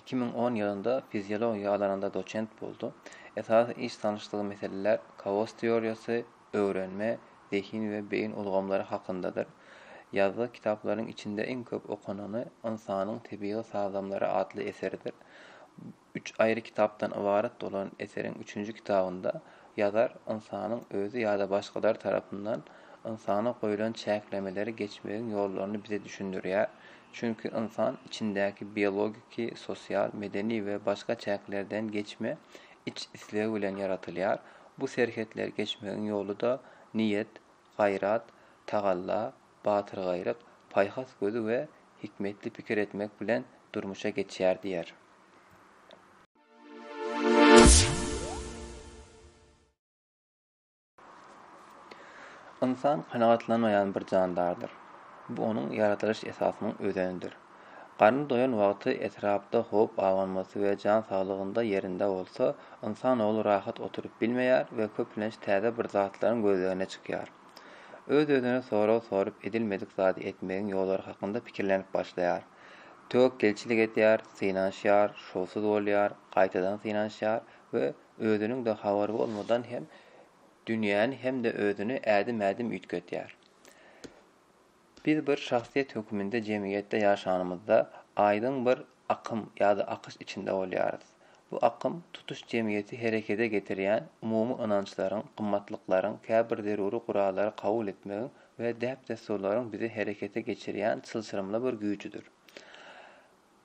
Iki müň on ýylynda fiziologiýa alanynda doçent boldy. Esasy iş sanyşdygy meseleler kaos teoriýasy, öwrenme, zehin we beýin ulgamlary hakyndadyr. Ýazgy kitaplarynyň içinde iň köp okanany Ynsanyň tebigy sazlamlary atly eseridir. Üç aýry kitapdan ybarat bolan eseriň üçünji kitabynda ýazar ynsanyň özi ýa-da başgalar tarapyndan ynsana goýlan çäklemeleri geçmegiň ýollaryny bize düşündirýär, Çünki ynsan içindäki biologiki, sosial, medeni we başga çäklerden geçme iç islegi bilen ýaratylýar, bu serhetleri geçmegiň ýoly-da niýet, gaýrat, tagalla, batyrgaýlyk, paýhas gözi we hikmetli pikir etmek bilen durmuşa geçýär diýer. Ynsan kanagatlanmaýan bir jandardyr. Bu onuň ýaradylyş esasynyň özenidir. Garny doýan wagty etrapda howp abanmasy we jan saglygynda ýerinde bolsa, ynsan ogly rahat oturyp bilmeýär we köplenç täze bir zatlaryň gözlegine çykýar. Öz-özüne sorag sorup, edilmedik zady etmegiň ýollary hakynda pikirlenip başlaýar. Töwekgelçilik edýär, synanyşýar, şowsuz bolýar, gaýtadan synanyşýar we özüniň-de habary bolmadan hem dünýäni hem-de özüni ädim-ädim üýtgetýär. Biz bir şahsyýet höküminde jemgyýetde ýaşanymyzda, aýdyň bir akym ýa-da akyş içinde bolýarys. Bu akym tutuş jemgyýeti herekede getirýän umumy ynançlaryň, gymmatlyklaryň, käbir zeruri gurallary kabul etmegiň we däp-dessurlaryň bizi herekete geçirýän çylşyrymly bir güýjüdir.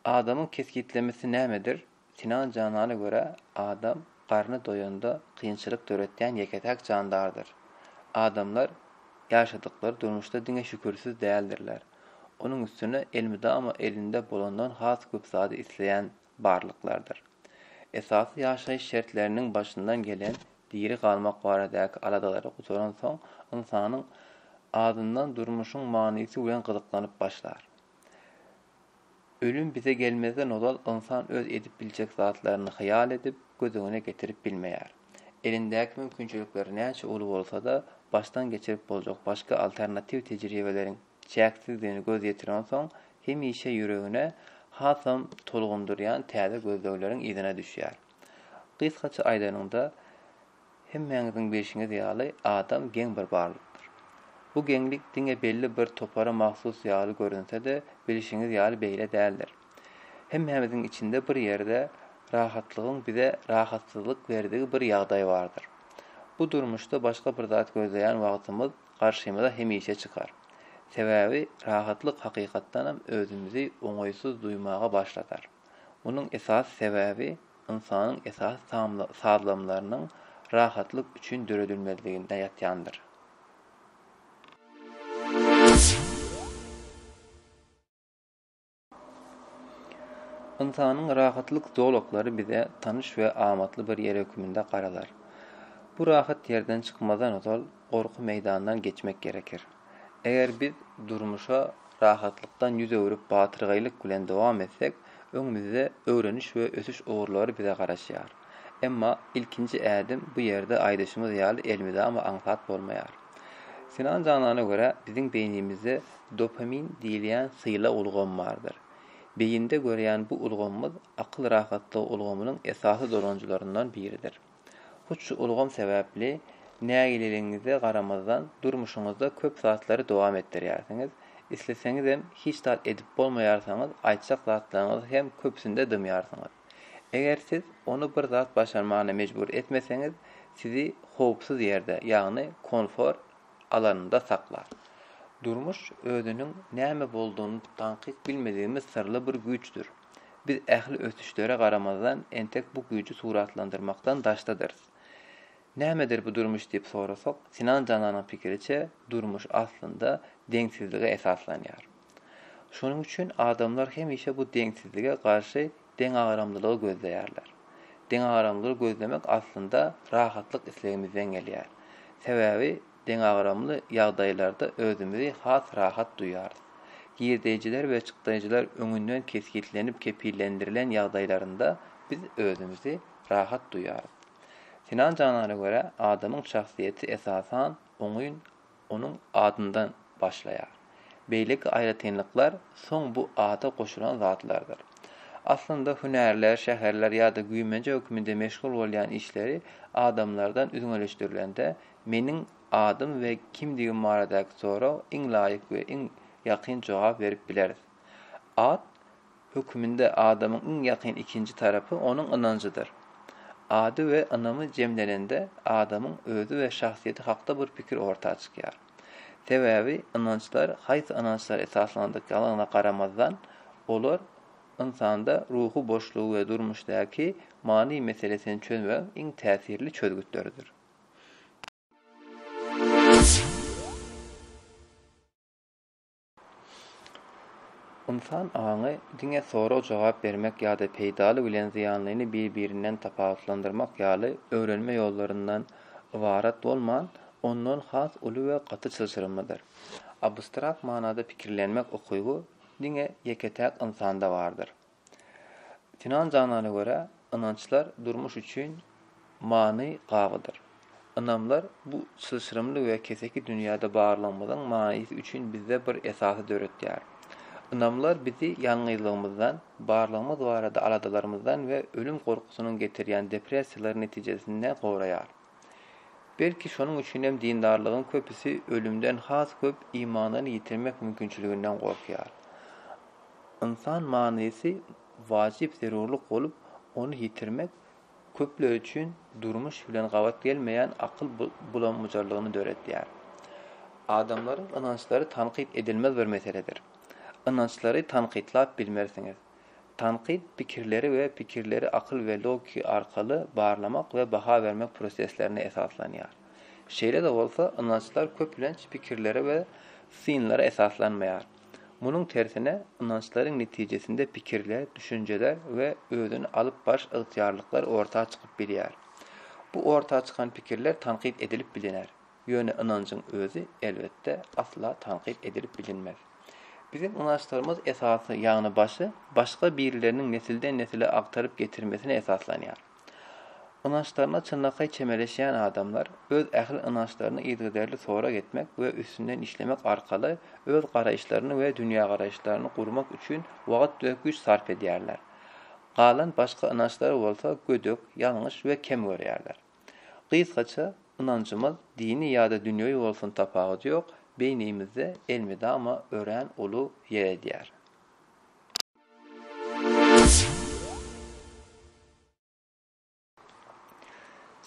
Adamyň kesgitlemesi nämedir? Sinan Janana görä, adam garny doýanda kynçylyk döretýän ýeke-täk jandardyr. Adamlar ýaşadyklary durmuşda diňe şükürsiz däldirler. Onuň üstüne elmydama elinde bolandan has köp zady isleýän barlyklardyr. Esasy ýaşaýyş şertleriniň başyndan gelen diri galmak baradaky aladalary gutaransoň, ynsanyň azyndan durmuşyň manysy bilen gyzyklanyp başlar. Ölüm bize gelmezden ozal ynsan öz edip biljek zatlaryny hyýal edip, göz öňüne getirip bilmeýär. Elindäki mümkinçilikler näçe uly bolsa-da, başdan geçirip boljak başga alternatiw tejribeleriň çäksizdigini göz ýetirensoň, hemişe ýüregini hasam tolgundyrýan täze gözlegleriň yzyna düşýär. Gysgaça aýdanyňda, hemmäňiziň bilşiňiz ýaly, adam geň bir barlykdyr. Bu geňlik diňe belli bir topara mahsus ýaly görünse-de, bilşiňiz ýaly beýle däldir. Hemmämiziň içinde bir ýerde rahatlygyň bize rahatsyzlyk berdigi bir ýagdaý bardyr. Bu durmuşda başga bir zat gözleýän wagtymyz garşymyza hemişe çykar. Sebäbi rahatlyk hakykatdanam özümizi oňaýsyz duýmaga başladar. Munuň esasy sebäbi ynsanyň esasy sazlamlarynyň rahatlyk üçin döredilmezliginde ýatýandyr. Ynsanyň rahatlyk zolaklary bize tanyş we amatly bir ýer hökmünde garalar. Bu rahat ýerden çykmazdan ozal, gorky meýdandan geçmek gerekir. Eger biz durmuşa rahatlykdan ýüz öwrüp batyrgaýlyk bilen dowam etsek, öňümizde öwreniş we ösüş ugurlary bize garaşýar. Emma ilkinji ädim bu ýerde aýdyşymyz ýaly elmydama aňsat bolmaýar. Sinan Janana görä biziň beýnimizde dopamin diýilýän sylag ulgamy bardyr. Beýinde görýän bu ulgamymyz akyl rahatlygy ulgamynyň esasy dolanyjylaryndan biridir. Hut şu ulgam sebäpli, nägileligiňize garamazdan, durmuşyňyzda köp zatlary dowam etdirýärsiňiz, isleseňizem, hiç zat edip bolmaýarsyňyz, aýtjak zatlaryňyzy hem köpüsinde dymýarsyňyz. Eger siz ony bir zat başarmagyna mejbur etmeseňiz, sizi howpsuz ýerde, ýagny konfor alanynda saklar. Durmuş özüniň näme boldugyny daňkyk bilmedigimiz syrly bir güýçdür. Biz ähli ösüşlere garamazdan, entek bu güýji suratlandyrmakdan daşdadyrys. Nämedir bu durmuş diýip sorasak, Sinan jananyň pikiriçe, durmuş, aslynda, deňsizlige esaslanýar. Şonuň üçin adamlar hemişe bu deňsizlige garşy deňagramlylygy gözleýärler. Deňagramlylygy gözlemek, aslynda, rahatlyk islegimizden gelýär. Sebäbi deňagramly ýagdaýlarda özümizi has rahat duýarys. Girdeýjiler we çykdaýjylar öňünden kesgitlenip kepillendirilen ýagdaýlarynda biz özümizi rahat duýarys. Sinan Janana görä, adamyň şahsyýeti esasan oňyn onuň adyndan başlaýar. Beýleki aýratynlyklar soň bu ada goşulan zatlardyr. Aslynda hünärler, şäherler ýa-da güýmenje hökmünde meşgul bolýan işleri adamlardan üzňeleşdirilende Meniň adym we kimdigim baradaky soraga iň laýyk we iň ýakyn jogap berip bileris. At höküminde adamyň iň ýakyn ikinji tarapy onuň ynanjydyr. Ady we ynamy jemlenende adamyň özi we şahsyýeti hakda bir pikir orta çykýar. Sebäbi ynançlar haýsy ynançlara esaslandyklaryna garamazdan, olar ynsanda ruhy boşlugy we durmuşdaky many meselesini çözmegiň iň täsirli çözgütleridir. Ynsan aňy diňe sorag-jogap bermek ýa-da peýdaly bilen zyýanlyny bir-birinden tapawutlandyrmak ýaly öwrenme ýollaryndan ybarat bolman, ondan has uly we gaty çylşyrymlydyr. Abstrakt manada pikirlenmek ukyby diňe ýeke-täk ynsanda bardyr. Sinan Janana görä, ynançlar durmuş üçin many gabydyr. Ynamlar bu çylşyrymly we keseki dünýäde barlygymyzyň manysy üçin bizde bir esasy döretýär. Ynamlar bizi ýalňyzlygymyzdan, barlygymyz barada aladalarymyzdan we ölüm gorkusynyň getirýän depressiýalary netijesinde goraýar. Belki şonuň üçinem dindarlaryň köpüsi ölümden has köp imanyny ýitirmek mümkinçiliginden gorkýar. Ynsan manysy wajyp zerurlyk bolup, ony ýitirmek köpler üçin durmuş bilen gabat gelmeýän akyl bulam-bujarlygyny döredýär. Adamlaryň ynançlary tankyt edilmez bir meseledir. Ynançlary tankytlap bilmersiňiz. Tankyt pikirleri we pikirleri akyl we logiki arkaly barlamak we baha bermek proseslerine esaslanýar. Şeýle-de bolsa, ynançlar köplenç pikirlere we synlara esaslanmaýar. Munuň tersine, ynançlaryň netijesinde pikirler, düşünjeler we özüni alyp baryş ygtyýarlyklar orta çykyp bilýär. Bu orta çykan pikirler tankyt edilip biliner. Ýöne ynanjyň özi, elbetde, asla tankyt edilip bilinmez. Biziň ynançlarymyz esasy ýanbaşy başga birleriniň nesilden-nesile agtaryp getirmesine esaslanýar. Ynançlaryna çynlakaý çemeleşýän adamlar öz ähli ynançlaryny yzygiderli sorag etmek we üstünden işlemek arkaly öz garaýyşlaryny we dünýägaraýyşlaryny gurmak üçin wagt we güýç sarp edýärler. Galan başga ynançlary bolsa gödek, ýalňyş we kem görýärler. Gysgaça, ynanjymyz dini ýa-da dünýewi bolsun tapawudy ýok, beýnimizde elmydama örän uly ýer edýär.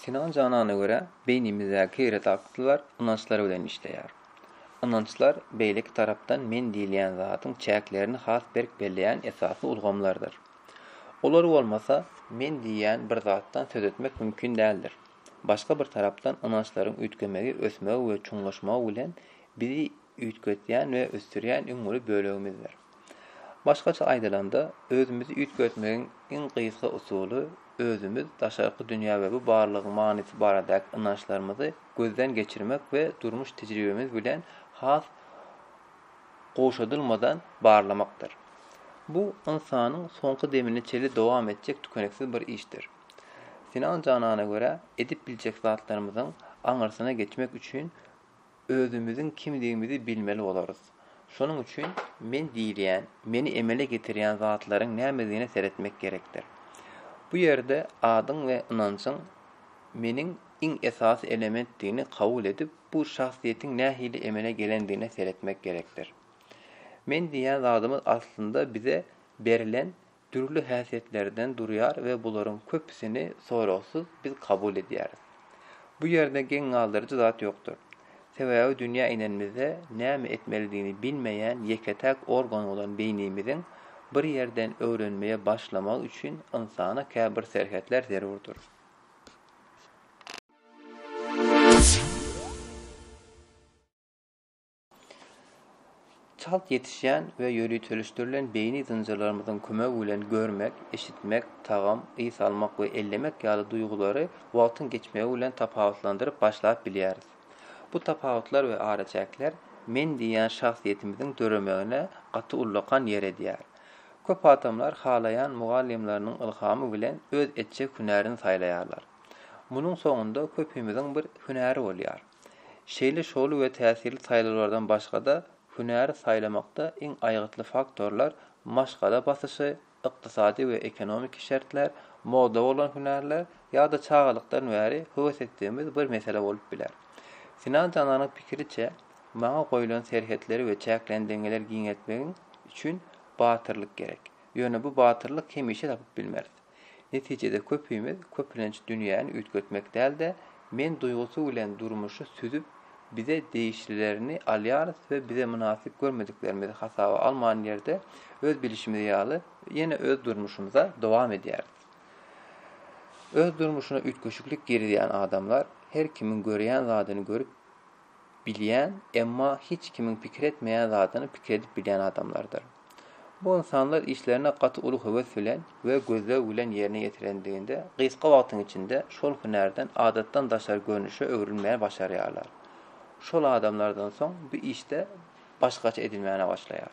Sinan Janana görä, beýnimizdäki redaktlar ynançlar bilen işleýär. Ynançlar beýleki tarapdan men diýilýän zadyň çäklerini has berk belleýän esasy ulgamlardyr. Olar bolmasa, men diýýän bir zatdan söz etmek mümkin däldir. Başga bir tarapdan ynançlaryň üýtgemegi ösmegi we çuňlaşmagy bilen bizi üýtgetýän we ösdürýän iň uly bölegimizdir. Başgaça aýdylanda, özümizi üýtgetmegiň iň gysga usuly özümiz, daşarky dünýä we bu barlygyň manysy baradaky ynançlarymyzy gözden geçirmek we durmuş tejribemiz bilen has gowşadylmadan barlamakdyr. Bu ynsanyň soňky demine çenli dowam etjek tükeniksiz bir işdir. Sinan janana görä, edip biljek zatlarymyzyň aňyrsyna geçmek üçin özümiziň kimdigimizi bilmeli bolarys. Şonuň üçin men diýilýän, meni emele getirýän zatlaryň nämedigine seretmek gerekdir. Bu ýerde adyň we ynanjyň meniň iň esasy elementdigini kabul edip, Bu şahsyýetiň nähili emele gelendigine seretmek gerekdir. Men diýýän zadymyz aslynda bize berilen dürli häsiýetlerden durýar we bularyň köpüsini soragsyz biz kabul edýäris. Bu ýerde geň galdyryjy zat ýokdur. Sebäbi dünýä inenimizde näme etmelidigini bilmeýän ýeke-täk organ bolan beýnimiziň bir ýerden öwrenmeye başlamagy üçin ynsana käbir serhetler zerurdyr. Çalt ýetişýän we ýöriteleşdirilen beýni zynjyrlarymyzyň kömegi bilen görmek, eşitmek, tagam, ys almak we ellemek ýaly duýgulary wagtyň geçmegi bilen tapawutlandyryp başlap bilýäris. Bu tapawutlar we araçäkler men diýýän şahsyýetimiziň döremegine gaty ullakan ýer edýär. Köp adamlar halaýan mugallymlarynyň ylhamy bilen öz etjek hünärini saýlaýarlar. Munuň soňunda köpimiziň bir hünäri bolýar. Şeýle şowly we täsirli saýlawlardan başga-da, hünäri saýlamakda iň aýgytly faktorlar maşgala basyşy, ykdysady we ekonomiki şertler, moda bolan hünärler ýa-da çagalykdan bäri höwes etdigimiz bir mesele bolup biler. Sinan jananyň pikiriçe, maňa goýlan serhetleri we çäklendirmeleri giňeltmegiň üçin batyrlyk gerek. Ýöne bu batyrlyk hemişe tapyp bilmeris. Netijede köpimiz köplenç dünýäni üýtgetmek däl-de, men duýgusy bilen durmuşy süzüp, bize degişlilerini alýarys we bize mynasyp görmediklerimizi hasaba alman ýerde öz bilişimiz ýaly ýene öz durmuşymyza dowam edýäris. Öz durmuşyna üýtgeşiklik girizýän adamlar her kimiň görýän zadyny görüp, bilýän, emma hiç kimiň pikir etmeýän zadyny pikir edip bilýän adamlardyr. Bu ynsanlar işlerini gaty uly höwes bilen we gözleg bilen ýerine ýetirendiginde gysga wagtyň içinde şol hünärden adatdan daşary görnüşe öwrülmäni başarýarlar. Şol adamlardan soň bu işde başgaça edilmäne başlaýar.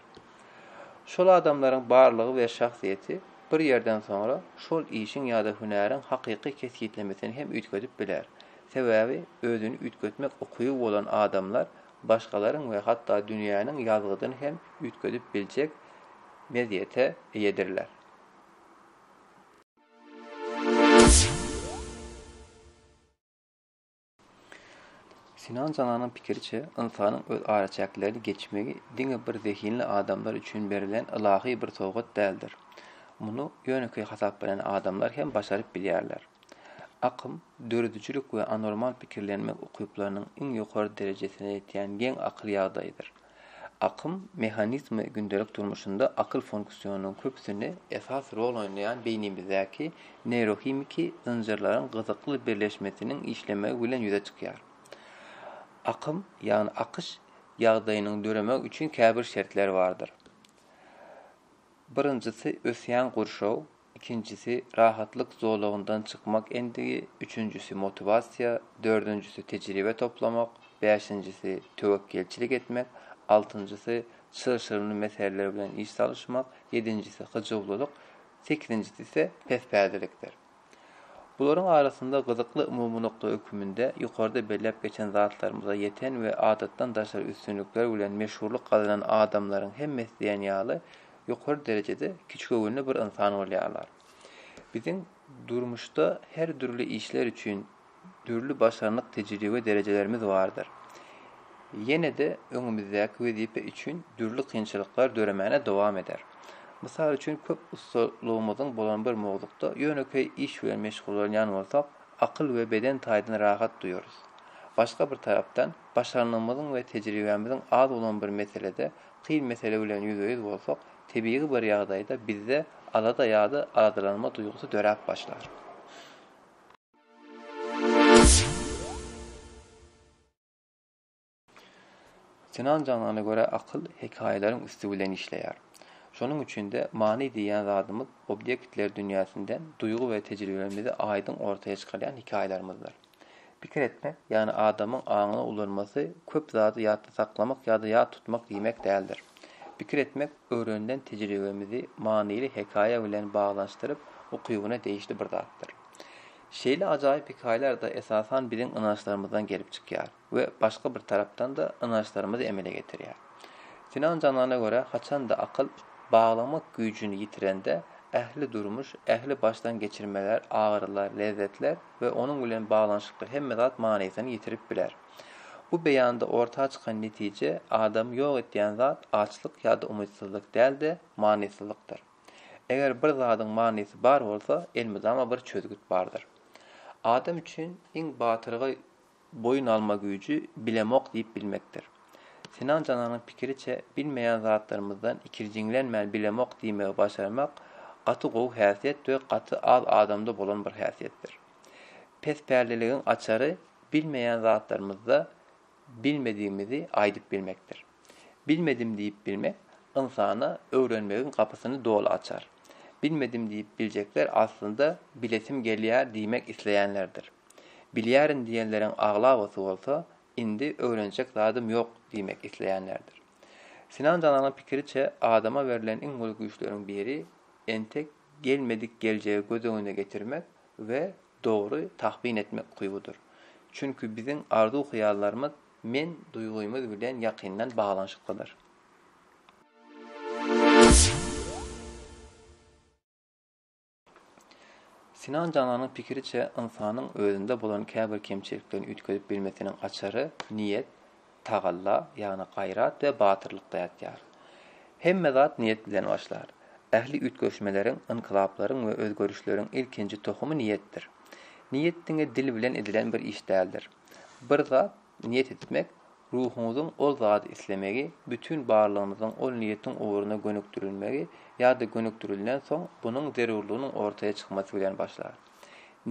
Şol adamlaryň barlygy we şahsyýeti bir ýerden soňra şol işiň ýa-da hünäriň hakyky kesgitlemesini hem üýtgedip biler Sebäbi özüni üýtgetmek ukyby bolan adamlar başgalaryň we hatda dünýäniň ýazgydyny hem üýtgedip biljek mezýete eýedirler. Sinan Jananyň pikiriçe, ynsanyň öz araçäklerini geçmegi diňe bir zehinli adamlar üçin berlen ylahy bir sowgat däldir. Muny ýönekeý hasaplaýan adamlar hem başaryp bilýärler. Akym, döredijilik we anormal pikirlenmek ukyplarynyň iň ýokary derejesine ýetýän geň akyl ýagdaýydyr. Akym mehanizmi gündelik durmuşynda akyl funksiýonunyň köpüsini esasy rol oýnaýan beýnimizdäki neýrohimiki zynjyrlaryň gyzykly birleşmesiniň işlemegi bilen ýüze çykýar. Akym, ýagny akyş, ýagdaýynyň döremegi üçin käbir şertler bardyr. Birinjisi ösýän gurşaw, ikinjisi, rahatlyk zolagyndan çykmak endigi, üçünjisi, motiwasiýa, dördünjisi, tejribe toplamak, bäşinjisi, töwekgelçilik etmek, altynjysy, çylşyrymly meseleler bilen iş salyşmak, ýedinjisi, hyjuwlylyk, sekizinjisi ise pespädelikdir. Bularyň arasynda gyzykly umumy nokta höküminde ýokarda belläp geçen zatlarymyza ýeten we adatdan daşary üstünlikler bilen meşhurlyk gazanan adamlaryň hemmesi diýen ýaly ýokary derejede kiçigöwünli bir ynsan bolýarlar. Biziň durmuşda her dürli işler üçin dürli başarnyk tejribe derejelerimiz bardyr. Ýene-de öňümizdäki wezipe üçin dürli kynçylyklar döremäne dowam eder. Mysal üçin köp ussalygymyzyň bolan bir mowzukda ýönekeý iş bilen meşgullanýan bolsak, akyl we beden taýdan rahat duýarys. Başga bir tarapdan, başarnygymyzyň we tejribämiziň az bolan bir meselede Kyn mesele bilen ýüzbe-ýüz bolsak, tebigy bir ýagdaýda bizde alada ýa-da aladalanma duýgusy döräp başlar. Sinan Janana görä akyl hekaýalaryň üsti bilen işleýär. Şonuň üçin-de many diýýän zadymyz obýektler dünýäsinden duýgy we tejribelerimizi aýdyň ortaya çykarýan hekaýalarymyzdyr. Pikir etmek, ýagny adamyň aňyny ulanmasy köp zady ýatda saklamak ýa-da ýat tutmak diýmek däldir. Pikir etmek, öwrenilen tejribemizi manyly hekaýa bilen baglanyşdyryp ukybyna degişli bir zatdyr. Şeýle ajaýyp hekaýalar-da esasan biziň ynançlarymyzdan gelip çykýar. we başga bir tarapdan-da ynançlarymyzy emele getirýär. Sinan Janana görä, haçan-da akyl baglamak güýjüni ýitirende, ähli durmuş, ähli başdan geçirmeler, agyrylar, lezzetler we onuň bilen baglanyşykly hemme zat manysyny ýitirip biler. Bu beýanda orta çykan netije, adamy ýok etýän zat açlyk ýa-da umytsyzlyk däl-de, manysyzlykdyr. Eger bir zadyň manysy bar bolsa, elmydama bir çözgüt bardyr. Adam üçin iň batyrgaý boýun alma güýji bilemok diýip bilmekdir. Sinan Jananyň pikiriçe, bilmeýän zatlarymyzdan ikirjiňlenmän bilemok diýmegi başarmak gaty gowy häsiýet we gaty az adamda bolan bir häsiýetdir. Pespäliligiň açary bilmeýän zatlarymyzda bilmedigimizi aýdyp bilmekdir. Bilmedim diýip bilmek ynsana öwrenmegiň gapysyny doly açar. Bilmedim diýip biljekler aslynda bilesim gelýär diýmek isleýänlerdir. Bilýärin diýenleriň aglabasy bolsa indi öwrenjek zadym ýok diýmek isleýänlerdir. Sinan Jananyň pikiriçe adama berlen iň uly güýçleriň biri entek gelmedik geljegi göz öňüne getirmek we dogry tahbin etmek ukybydyr. Çünki biziň arzuw-hyýallarymyz men duýgymyz bilen ýakyndan baglanyşyklydyr. Sinan Jananyň pikiriçe, ynsanyň özünde bolan käbir kemçiliklerini üýtgedip bilmesiniň açary niýet, tagalla, ýagny gaýrat we batyrlykda ýatýar. Hemme zat niýet bilen başlar. Ähli üýtgeşmeleriň, ynkylaplaryň we özgerişleriň ilkinji tohumy niýetdir. Niýet diňe dil bilen edilen bir iş däldir. Bir zat niýet etmek, Ruhuňyzyň ol zady islemegi, bütin barlygyňyzyň ol niýetiň ugruna gönükdirilmegi ýa-da gönükdirildensoň bunuň zerurlygynyň ortaýa çykmasy bilen başlar.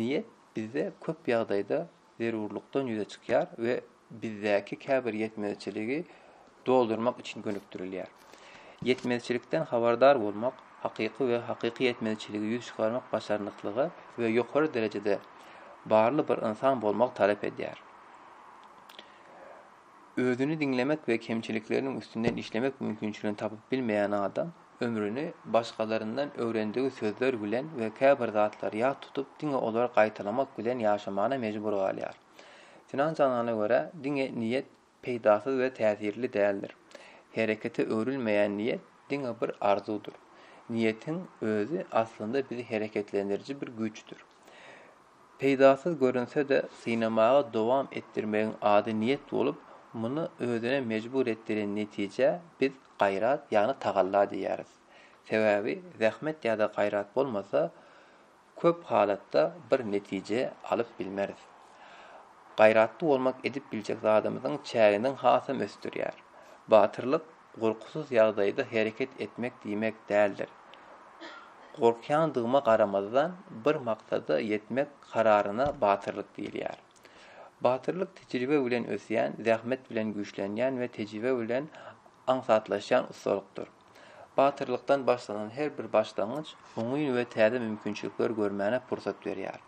Niýet bizde köp ýagdaýda zerurlykdan ýüze çykýar we bizdäki käbir ýetmezçiligi doldurmak üçin gönükdirilýär. Ýetmezçilikden habardar bolmak, hakyky we hakyky ýetmezçiligi ýüz çykarmak başarnyklygy we ýokary derejede barly bir ynsan bolmagy talap edýär. özüni diňlemek we kemçilikleriniň üstünden işlemek mümkinçiligini tapyp bilmeýän adam ömrüni başgalaryndan öwrendigi sözler bilen we käbir zatlary ýat tutup diňe olary gaýtalamak bilen ýaşamana mejbur galýar. Sinan Janana görä, diňe niýet peýdasyz we täsirli däldir. Herekete öwrülmeýän niýet diňe bir arzuwdyr. Niýetiň özi aslynda bizi hereketlendiriji bir güýçdür. Peýdasyz görünse-de, synamagy dowam etdirmegiň ady niýet bolup, muny özüne mejbur etdiren netijä biz gaýrat, ýagny tagalla diýýäris. Sebäbi zähmet ýa-da gaýrat bolmasa, köp halatda bir netije alyp bilmeris. Gaýratly bolmak edip biljek zadymyzyň çäginiň hasam ösdürýär. Batyrlyk gorkusyz ýagdaýda hereket etmek diýmek däldir. Gorkýandygyma garamazdan, bir maksada ýetmek kararyna batyrlyk diýilýär. Batyrlyk tejribe bilen ösýän, zähmet bilen güýçlenýän we tejribe bilen aňsatlaşýan ussalykdyr. Batyrlykdan başlanan her bir başlangyç oňyn we täze mümkinçilikler görmäne pursat berýär.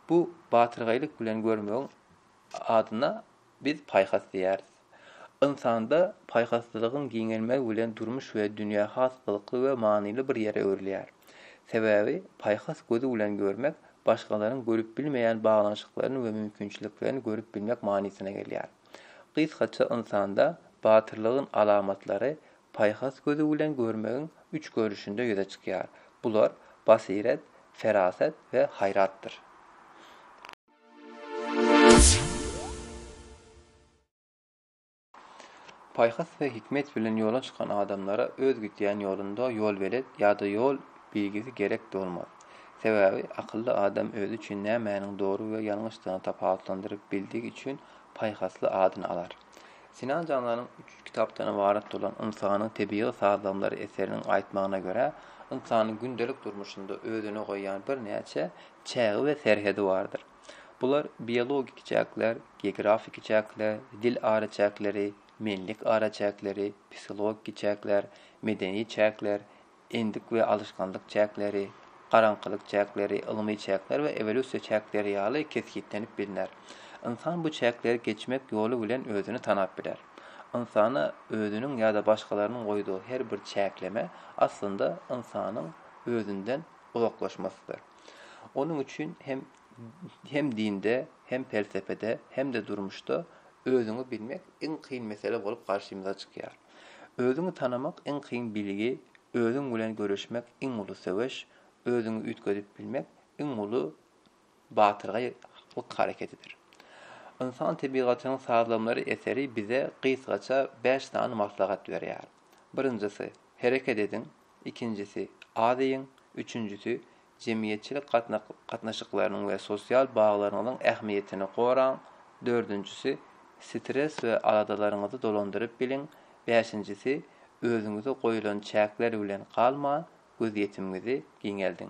Bu, batyrgaýlyk bilen görmegiň Adyna biz paýhas diýýäris. Ynsanda paýhaslylygyň giňelmegi bilen durmuş we dünýä has gyzykly we manyly bir ýere öwrülýär. Sebäbi paýhas gözi bilen görmek, başgalaryň görüp bilmeýän baglanyşyklaryny we mümkinçiliklerini görüp bilmek manysyna gelýär. Gysgaça ynsanda batyrlygyň alamatlary paýhas gözi bilen görmegiň üç görnüşinde ýüze çykýar. Bular, basyret, ferasat we haýratdyr. Paýhas we hikmet bilen ýola çykan adamlara öz gidýän ýolunda ýolbelet ýa-da ýol bilgisi gerek bolmaz. Sebäbi akylly adam özi üçin nämäniň dogry we ýalňyşdygyny tapawutlandyryp bildigi üçin paýhasly adyny alar. Sinan Jananyň üç kitapdan ybarat bolan Ynsanyň tebigy sazlagmlary eseriniň aýtmagyna görä, ynsanyň gündelik durmuşynda özüne goýýan birnäçe çägi we serhedi bardyr. Bular biologik çäkler, geografiki çäkler, dil araçäkleri, menlik araçäkleri, psihologiki çäkler, medeni çäkler, endik we alyşganlyk çäkleri, garaňkylyk çäkleri, ylmy çäkler we ewolýusiýa çäkleri ýaly kesgitlenip bilner. Ynsan bu çäkleri geçmek ýoly bilen özüni tanap biler. Ynsana özüniň ýa-da başgalarynyň goýduğy her bir çäkleme, aslynda, ynsanyň özünden uzaklaşmasydyr. Onuň üçin hem hem dinde, hem pelsepede, hem-de durmuşda özüňi bilmek iň kyn mesele bolup garşymyza çykýar. Özüňi tanamak iň kyn bilgi, özüň bilen göreşmek iň uly söweş, özüňi üýtgedip bilmek iň uly batyrgaý halk hareketidir. Ynsan tebigatynyň sazlamalar eseri bize gysgaça bäş sany maslahat berýär. Birinjisi, hereket ediň, ikinjisi, az iýiň, üçünjisi, jemgyýetçilik gatnaşyklarynyň we sosial baglaryňyzyň ähmiýetini goraň, dördünjisi, stres we aladalaryňyzy dolandyryp biliň, bäşinjisi, özüňize goýulan çäkler bilen galman, gözýetimiňizi giňeldiň.